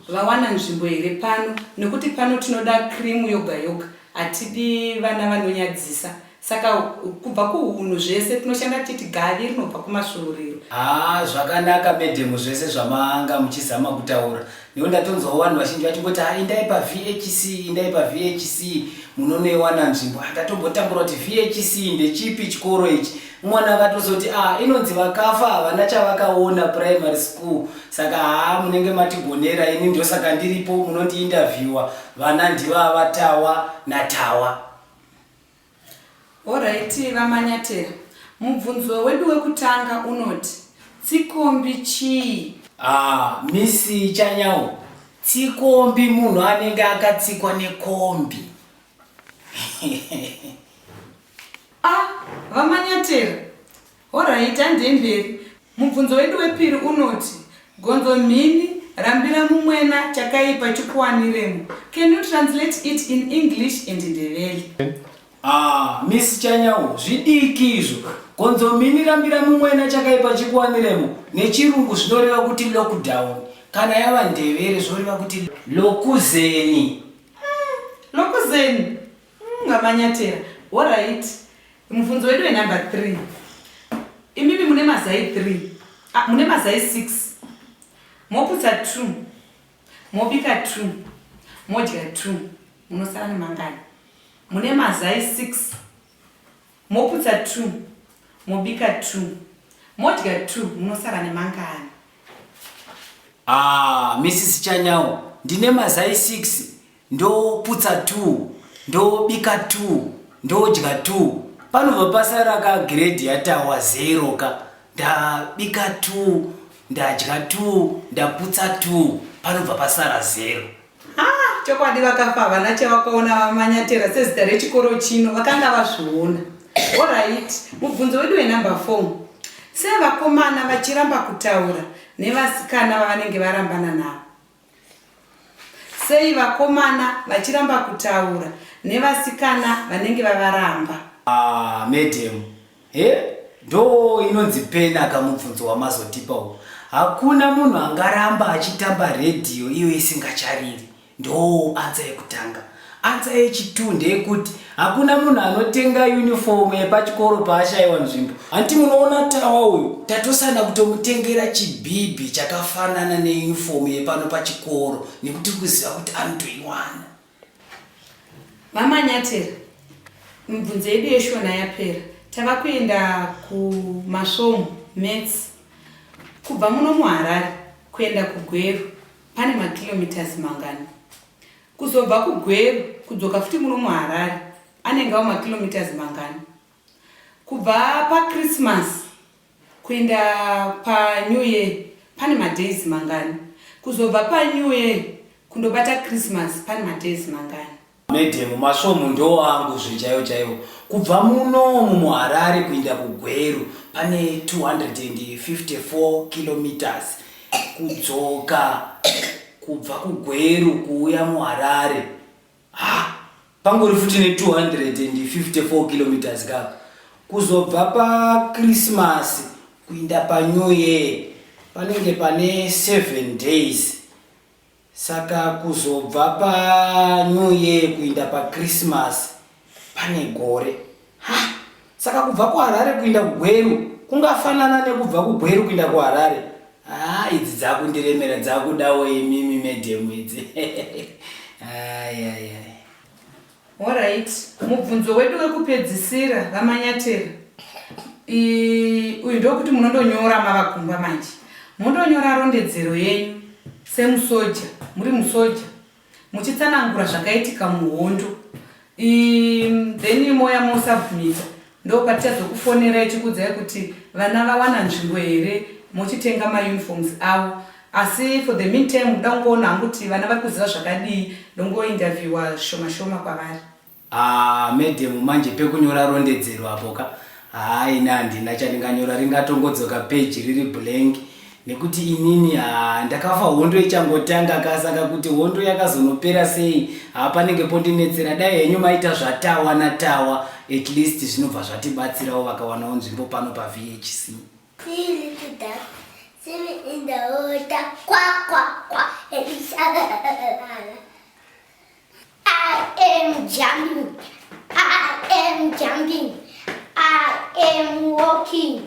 vawana nzvimbo here pano nokuti pano tinoda krimu yoga yoga hatidi vana vanonyadzisa saka kubva kuhunhu zvese tinoshanda titi gavi rinobva kumasvuuriro haa zvakanaka medhemu zvese zvamanga muchizama kutaura Nekuti ndatonzwawo vanhu vazhinji vachingoti ha indai paVHC indai paVHC munonoiwana nzvimbo. Ndatombotambura kuti VHC ndechipi chikoro ichi. Mwana akatozoti ah inonzi vakafa havana chavakaona primary school saka haa munenge matigonera ini ndosaka ndiripo munondiinterviewa vana ndivavatawa natawa. Horaiti vaManyatera, mubvunzo wedu wekutanga unoti tsikombi chii? Haa Miss Chanyawo, tsikombi munhu anenge akatsikwa nekombi. Ah, vaManyatera, Horaiti, handei mberi. Mubvunzo wedu wepiri unoti, Gonzo mhini, rambira mumwena, chakaipa chikuwaniremo. Can you translate it in English and Ndebele? Ah, Miss Chanyawo, zvidiki izvo. Gonzo mhini, rambira mumwena, chakaipa chikuwaniremo. NeChirungu zvinoreva kuti lockdown. Kana yava Ndebele zvoreva kuti lokuzeni. Lokuzeni? Umm vamanyatera horait mubvunzo wedu wenumber three imimi mune mazai three ah, mune mazai six moputsa two mobika two modya two munosara nemangani mune mazai six moputsa two mobika two modya two munosara nemangani ah, mrs chanyawo ndine mazai six ndoputsa two ndobika two ndodya two panobva pasara ka grade yatawa zero ka ndabika two ndadya two ndaputsa two panobva pasara zero ah, chokwadi vakafa havana chavakaona vamanyatera sezita rechikoro chino vakanga vazviona orit mubvunzo wedu wenumber four sevakomana vachiramba kutaura nevasikana vavanenge varambana navo Sei vakomana vachiramba kutaura nevasikana vanenge vavaramba? Ah, madam. He? Ndo inonzi pena kamubvunzo wamazotipa uwo. Hakuna munhu angaramba achitamba radio iyo isingachariri. Ndo answer yekutanga. Answer yechi 2 ndeyekuti hakuna munhu anotenga uniform yepachikoro paashaiwa nzvimbo. Hanti munoona Tawa uyu tatosana kutomutengera chibhibhi chakafanana neuniform yepano pachikoro nekuti kuziva kuti anotoiwana. Mama Nyatera, mibvunzo yedu yeshona yapera. Tava kuenda kumasvomu, maths. Kubva muno muHarare kuenda kuGweru pane makilometres mangani? Kuzobva kuGweru kudzoka futi muno muHarare anenge ava makilometers mangani? Kubva paChristmas kuenda paNew Year pane madays mangani? Kuzobva paNew Year kundobata Christmas pane madays mangani? Medhemu, masvomhu ndoo angu zvechaiwo chaiwo. Kubva muno mumuHarare kuenda kuGweru pane 254 kilometers. kudzoka kubva kugweru kuuya muharare ha pangori futi ne254 kilometers ka kuzobva pakrismasi kuinda panew year panenge pane 7 days Saka kuzobva pa new year kuinda pa Christmas pane gore. Ha! Saka kubva ku Harare kuinda ku Gweru kungafanana nekubva ku Gweru kuinda ku Harare. Ha! Idzi dzakundiremera dzakudawo imimi madam idzi. Ayayaya. Horait, mubvunzo wedu wekupedzisira vaManyatera. Ii, uyu ndokuti munondonyora mava kumba manje. Mondonyora rondedzero yenyu semusoja, muri musoja, muchitsanangura zvakaitika muhondo. Ii, then moya mosabmita Ndopatichazokufonerai tikuudzai kuti vana vawana nzvimbo here mochitenga mauniforms avo asi for the meantime ndoda kungoona hangu kuti vana vari kuziva zvakadii ndongointerviewa zvishoma shoma kwavari. Haa madam manje pekunyora rondedzero apo ka. Haa ini handina chandinganyora ringatongodzoka page riri blank nekuti inini haa ndakafa hondo ichangotanga ka saka kuti hondo yakazonopera sei haa panenge pondinetsera dai henyu maita zvatawa natawa at least zvinobva zvatibatsirawo vakawanawo nzvimbo pano pavhc I am jumping. I am jumping. I am walking.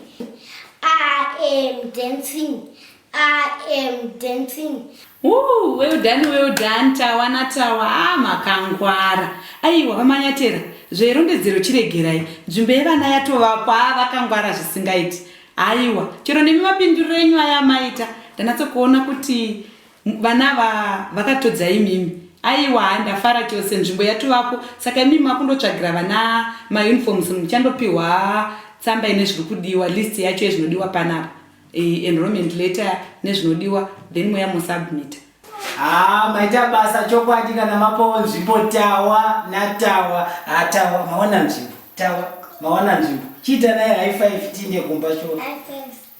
I am dancing. I am dancing. Ooh, well done, well done. Tawa na tawa. Ah, makangwara. Aiwa, vamanyatera. Zverondedzero chiregerai. Nzvimbo yevana yatovakwa vakangwara zvisingaiti. Aiwa, chero nemi mapindiro enyu aya maita. Ndanatsokuona kuti Vana ava vakatodza imimi. Aiwa haa ndafara chose nzvimbo yatovapo saka imimi makundotsvagira vana mauniforms muchandopihwa tsamba ine zviri kudiwa list yacho yezvinodiwa panapa eh, enrollment letter nezvinodiwa then moya mosubmita haa maita basa chokwadi kana mapawo nzvimbo tawa natawa haa tawa maona nzvimbo tawa maona nzvimbo chiita naye high five tiinde kumba sho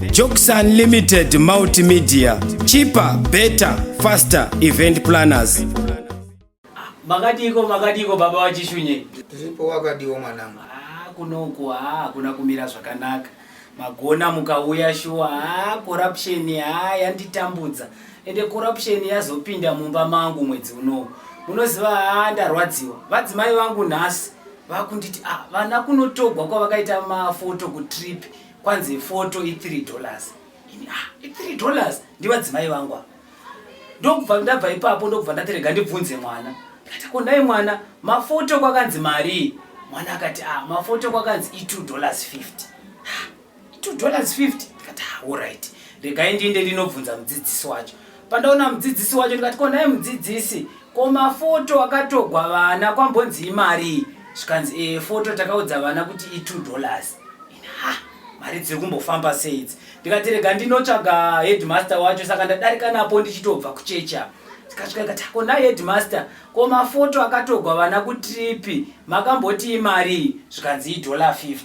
Jokes Unlimited Multimedia, cheaper, better, faster event planners. Makadiko makadiko baba wachishunye. Tiripo wakadiwo mwanangu. Ah kunoku ah kuna kumira zvakanaka. Magona mukauya shuwa ah corruption ah yanditambudza. Ende corruption yazopinda mumba mangu mwedzi unowu. Munoziva ah ndarwadziwa. Vadzimai vangu nhasi vakunditi ah vana kunotogwa kwavakaita mafoto ku trip. kwanzi foto i 3 dollars ini ah i 3 dollars ndivadzimai vangu apa ndokubva ndabva ipapo ndokubva ndati rega ndibvunze mwana ndikati ko nhai mwana mafoto kwakanzi marii mwana akati ah mafoto kwakanzi i 2 dollars 50 ah, i 2 dollars 50 ndikati ah alright regai ndiinde ndinobvunza mudzidzisi wacho pandaona mudzidzisi wacho ndikati ko nhai mudzidzisi ko mafoto akatogwa vana kwambonzi imarii zvikanzi e foto takaudza vana kuti i 2 dollars ha mari dziri kumbofamba sei idzi ndikati rega ndinotsvaga headmaster wacho saka ndadarika napo ndichitobva kuchechi apa tikasvika ikati ko nai headmaster ko mafoto akatogwa vana kutripi makambotii mari zvikanzi idollar 50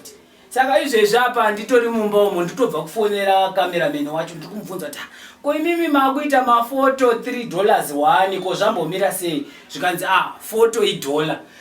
saka izvezvi apa nditori mumba umo nditobva kufonera cameraman wacho ndiri kumubvunza kuti ko imimi makuita mafoto 3 dollars 1 ko zvambomira sei zvikanzi ah foto idollar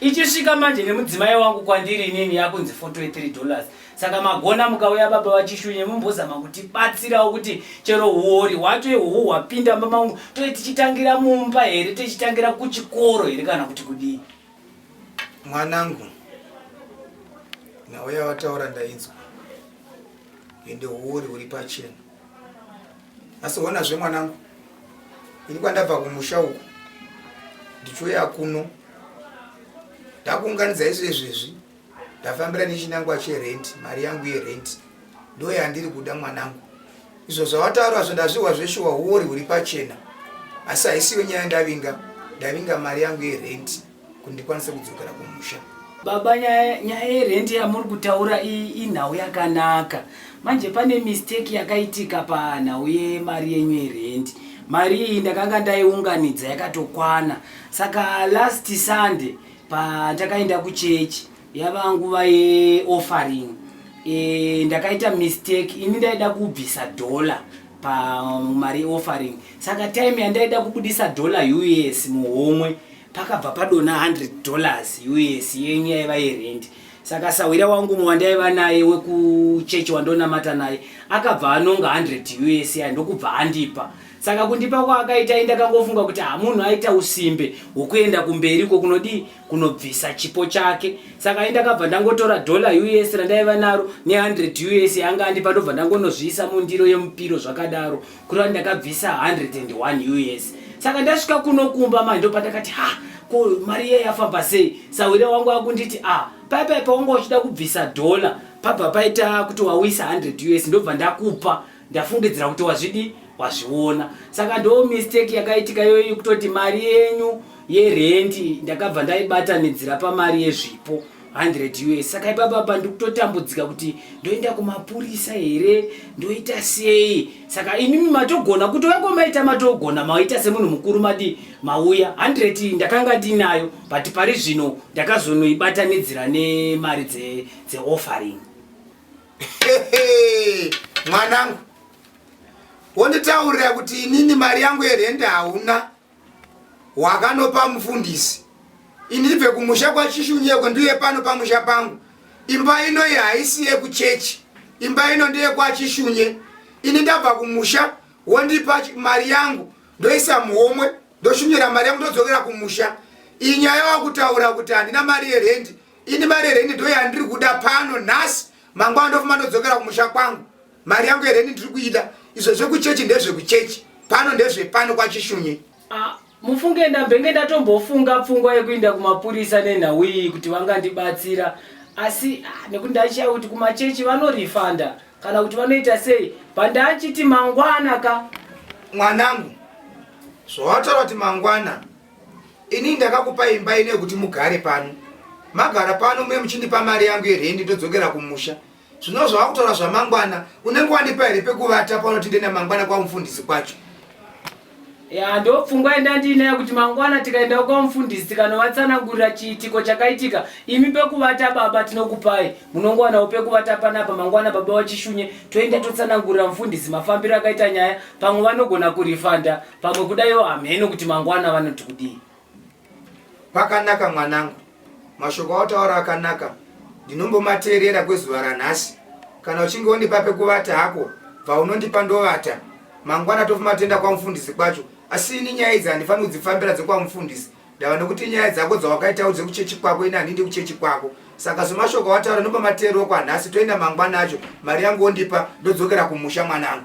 Ichisvika manje nemudzimai wangu kwandiri inini yakunzi 43 dollars. Saka magona mukauya baba vachishunye mumbozama kuti batsirawo kuti chero huori hwacho ihuhu hwapinda mama wangu toe tichitangira mumba here tichitangira kuchikoro here kana kuti kudii. Mwanangu nhau yawataura ndainzwa ende huori huri pachena. asi hona zve mwanangu ini kwandabva kumusha uku ndichiuya kuno ndakuunganidza izvo izvezvi ndafambira nechinangwa cherenti mari yangu yerenti ndo yandiri kuda mwanangu izvo zvawataura zvo ndazvihwa zveshuwa huori huri pachena asi haisiyo nyaya ndavinga ndavinga mari yangu yerenti kuti ndikwanise kudzokera kumusha baba nyaya yerendi yamuri kutaura inhau yakanaka manje pane mistake yakaitika panhau yemari yenyu yerendi mari iyi ndakanga ndaiunganidza yakatokwana saka last sunday pandakaenda kuchechi yava nguva yeoffering e, ndakaita mistake ini ndaida kubvisa dollar pamari yeoffering saka time yandaida kubudisa dollar us muhomwe pakabva padona 100 dollars us yenyu yaiva yerendi saka sahwira wangu mwe wandaiva naye wekuchechi wandonamata naye akabva anonga 100 us ya ndokubva andipa saka kundipa kwaakaita i ndakangofunga kuti hamunhu aita usimbe hwokuenda kumberi ko kunodii kunobvisa chipo chake saka i ndakabva ndangotora dola us randaiva naro ne 100 us yaanga andipa ndobva ndangonozviisa mundiro yemupiro zvakadaro kureva ndakabvisa 101 us saka ndasvika kuno kumba manje ndopatakati ha ko mari iye yafamba sei sahwire wangu akunditi a paipai paunga uchida kubvisa dhola pabva paita kuti wawisa 100 us ndobva ndakupa ndafungidzira kuti wazvidi wazviona saka ndo mistake yakaitika iyoyi kutoti mari yenyu yerendi ndakabva ndaibatanidzira pamari yezvipo 100 us saka ipapapa ndikutotambudzika kuti ndoenda kumapurisa here ndoita sei saka imimi matogona kuti vako maita matogona maita semunhu mukuru madi mauya 100 ndakanga ndinayo but pari zvino ndakazonoibatanidzira nemari dzeoffering mwanangu wonditaurira kuti inini mari yangu yerende hauna wakanopa mufundisi ini ibve kumusha kwachishunyeko ndiye pano pamusha pangu imba ino iyi haisi yekuchechi imba ino ndeyekwachishunye ini ndabva kumusha wondipa mari yangu ndoisa muhomwe ndoshunyira mari yangu ndodzokera kumusha iyi nyaya wakutaura kuti handina mari yerendi ini mari yerendi ndoyandiri kuda pano nhasi mangwana ndofuma ndodzokera kumusha kwangu mari yangu yereni ndiri kuida izvo zvekuchechi ndezvekuchechi pano ndezvepano kwachishunye ah, mufunge ndambenge ndatombofunga pfungwa yekuinda kumapurisa nenhau iyi kuti vangandibatsira asi ah, nekuti ndaichaya kuti kumachechi vanorifanda kana kuti vanoita sei pandachiti mangwana ka mwanangu zvawataura kuti mangwana ini ndakakupa imba ine yekuti mugare pano magara pano mune muchindipa mari yangu yerendi ndodzokera kumusha Zvino zvawakutora zvamangwana unenge wandipa here pekuvata panoti ndiende mangwana kwamufundisi kwacho? Ya ndopfungwa yenda ndiinayo kuti mangwana tikaenda kwamufundisi tikanovatsanangurira chiitiko chakaitika imi pekuvata baba tinokupai munongowanawo pekuvata panapa mangwana baba vachishunye toenda totsanangurira mufundisi mafambiro akaita nyaya pamwe vanogona kurifanda pamwe kudaiwo hamheno kuti mangwana vanoti kudii. Pakanaka mwanangu, mashoko autaura akanaka, ndinombomateerera kwezuva ranhasi. Kana uchinge undipa pekuvata hako, bva unondipa ndovata. Mangwana tofuma toenda kwamufundisi kwacho, asi ini nyaya idzi handifaniri kudzifambira dzekwamufundisi. Ndava nekuti nyaya dzako dzawakaitawo dzekuchechi kwako, ini handindi kuchechi kwako. Saka somashoko awataura ndombomateerero kwanhasi, toenda mangwana acho, mari yangu ondipa, ndodzokera kumusha mwanangu.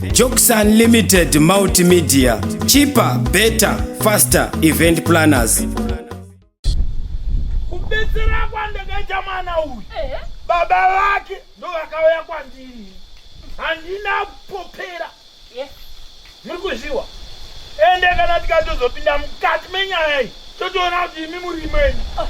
Jokes Unlimited Multimedia, cheaper, better, faster event planners. Kubetsera kwandakaita mwana uyu eh? baba vake ndo vakauya kwandiri handina kupopera eh? muri kuzviwa ende kana tikatozopinda mukati menyaya iyi totoona kuti imi muri imweni ah.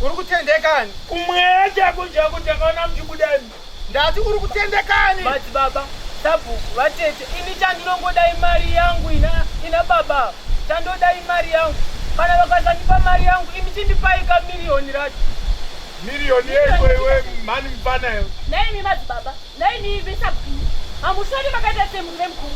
uri kutendekani kumweya chako chako takaona muchibudani Ndati uri kutendekani? Madzi baba, sabhuku, vatete, ini chandinongoda imari yangu ina, ina baba. Chandoda imari yangu. Kana vakasandipa mari yangu, imi chindipai ka miriyoni racho. Miriyoni yeko iwe mhani mfana iwe. Naimi madzi baba, naimi ive sabhuku. Hamusori makaita semurire mukuru.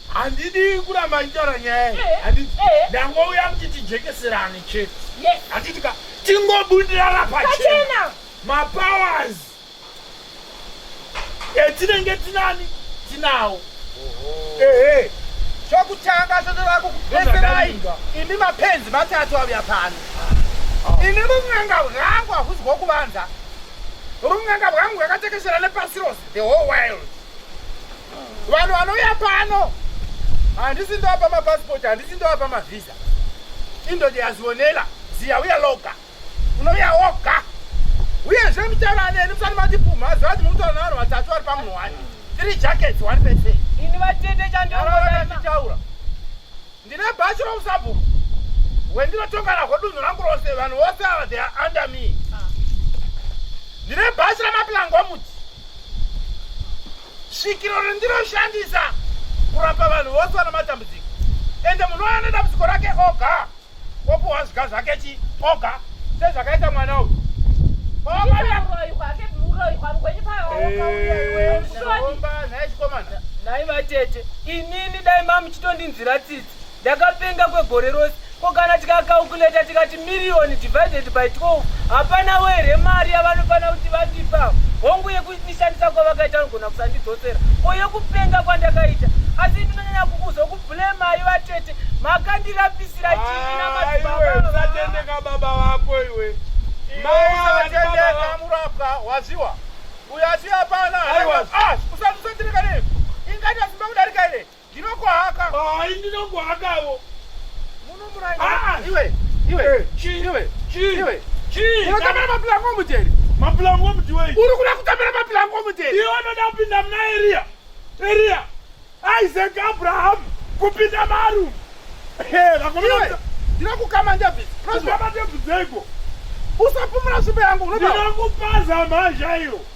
Handidi kuramba nditaura nyaya iyi. Eh, Handiti eh. ndangouya kuti tijekeserane chete. Yes. Handiti ka tingobudirana pachena. Pachena. Mapowers etinenge tinani tinawo. Ehe. Chokutanga chotoda kukubetserai imi mapenzi matatu auya pano. Ini run'anga rwangu hahuzi hwokuvanza. Run'anga rwangu rwakatekeshera nepasi rose, the whole world. vanhu vanouya pano handisi ndovapa mapasipoti handisi ndovapa mavhiza indoti yazionela ziya uya loga unouya woga uyezve mutaura aneni musati matipumha ziva kuti mukutaura navanhu vatatu vari pamunhu wani three jackets one person ini vatete chandioaitaura Ndine bhachi rousabhuku wendinotonga nahwo dunhu rangu rose vanhu vose ava they are under me. Ah. Ndine bhachi ramaplango omuti svikiro rendinoshandisa kurapa vanhu vose vana matambudziko ende munhu waya nedambudziko rake oga opuhwa zviga zvake chi oga sezvakaita mwana uyu naivatete inini dai mamuchitondi nzira tsitsi ndakapenga kwegore rose ko kana tikakaukuleta tikati miriyoni divided by 12 hapana were mari yavanofana kuti vandipa hongu yekuishandisa kwavakaita vanogona kusandidzosera ko yekupenga kwandakaita asi ndinonyanya kukuzokubhulema iva tete makandirapisira chii namasatendeka ah, baba vako iwe maiatendekaamurapwa waziwa uyo asi hapana ah, usatirikane ingati asimba kudarika ine Ndinokuhaka. Hayi ndinokuhakawo. Munomuraya. Ah, ah. iwe. Iwe. Eh, chi. Iwe. Chi. Iwe. Chi. Unotamira mapulango omujeri. Mapulango omujiwei. Uri kuda kutamira mapulango omujeri. Iwe unoda kupinda muna Eria. Eria. Isaac Abraham kupinda maru. Hey, vakomana. Ndinokukama David. Ndinokukama David zego. Usapumura nzvimbo yangu. Ndinokupaza mhazha iyo.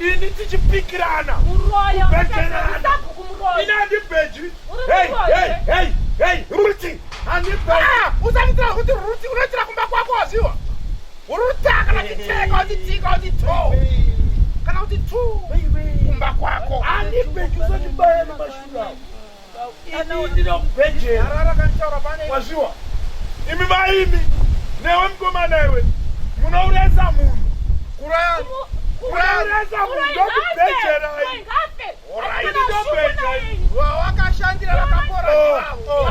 ini tichipikirana kubhejerana ini handibhejwi ruti usanditira kuti ruti unoitira kumba kwako waziwa uruta kana titeka utitika uti to kana kuti tu kumba kwako handibhejwi usandibaya nemashurawo Ini ndinoda kubhejera. Wazviwa? Imi vaimi newe mukomana iwe munoureza munhu. Kuraya. Kurayireza munhu ndokubhejera. Wawakashandira vakapora. Oh, oh.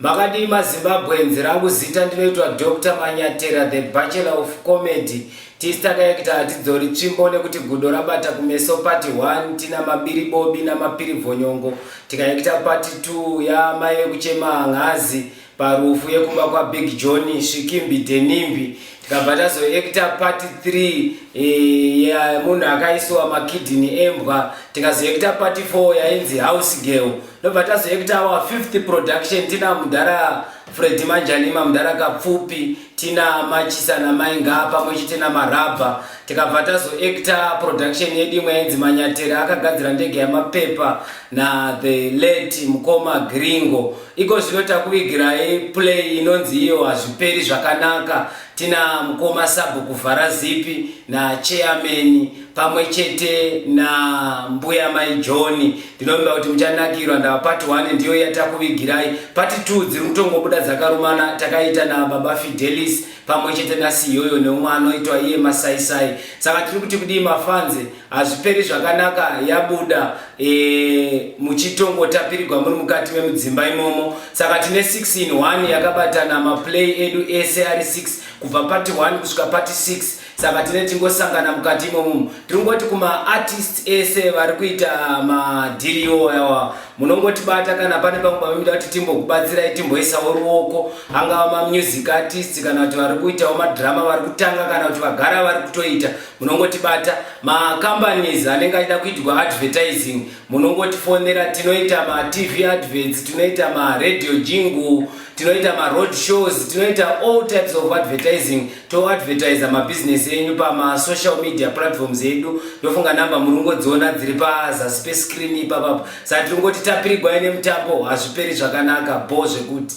Makadii maZimbabweans rangu zita ndinoitwa Doctor Manyatera the bachelor of comedy tisitakaekita hatidzori tsvimbo nekuti gudo rabata kumeso pati 1 tina mabiri bobi namapiri vhonyongo tikaekita pati 2 yamai vekuchema hangazi parufu yekumba kwabig john svikimbi denimbi Ndabva tazoekita part 3 eh, munhu akaisiwa makidini embwa tikazoekita part 4 yainzi house girl ndobva tazoekita our fifth production tina mudhara fredi manjanima mudhara kapfupi tina machisa namainga pamwe chete namarabha tikabva tazoacta production yedu imwe yainzi manyateri akagadzira ndege yamapepa nathe late mukoma gringo iko zvino takuvigirai play inonzi iyo hazviperi zvakanaka tina mukoma sabhu kuvhara zipi nacheameni pamwe chete nambuya mai johni ndinovimba kuti muchanakirwa ndava pati 1 ndiyo yatakuvigirai pati 2 dziri kutongobuda dzakarumana takaita nababa fidelis pamwe chete nasi iyoyo neumwe anoitwa iye masaisai saka tiri kuti kudii mafanzi hazviperi zvakanaka yabuda e, muchitongotapirigwa muri mukati memudzimba imomo saka tine 6 in 1 yakabatana maplay edu ese ari 6 kubva pati 1 kusvika pati 6 saka tine tingosangana mukati imomo tiri kungoti kumaartists ese vari kuita madhiri iwo yawa munongotibata kana pane pamwe pamida kuti timbokubatsirai timboisawo ruoko angava mamusic artist kana kuti vari kuitawo madhirama vari kutanga kana kuti vagara vari kutoita munongotibata macompanies anenge achida kuitwa advertising munongotifonera tinoita matv adverts tinoita maradio jingle tinoita maroad shows tinoita all types of advertising toadvertise mabusiness enyu pamasocial media platforms edu ndofunga namba muri kungodziona dziri pazasi pescreen ipapapa saka tiri kungoti tapirigwai nemutambo hazviperi zvakanaka bho zvekuti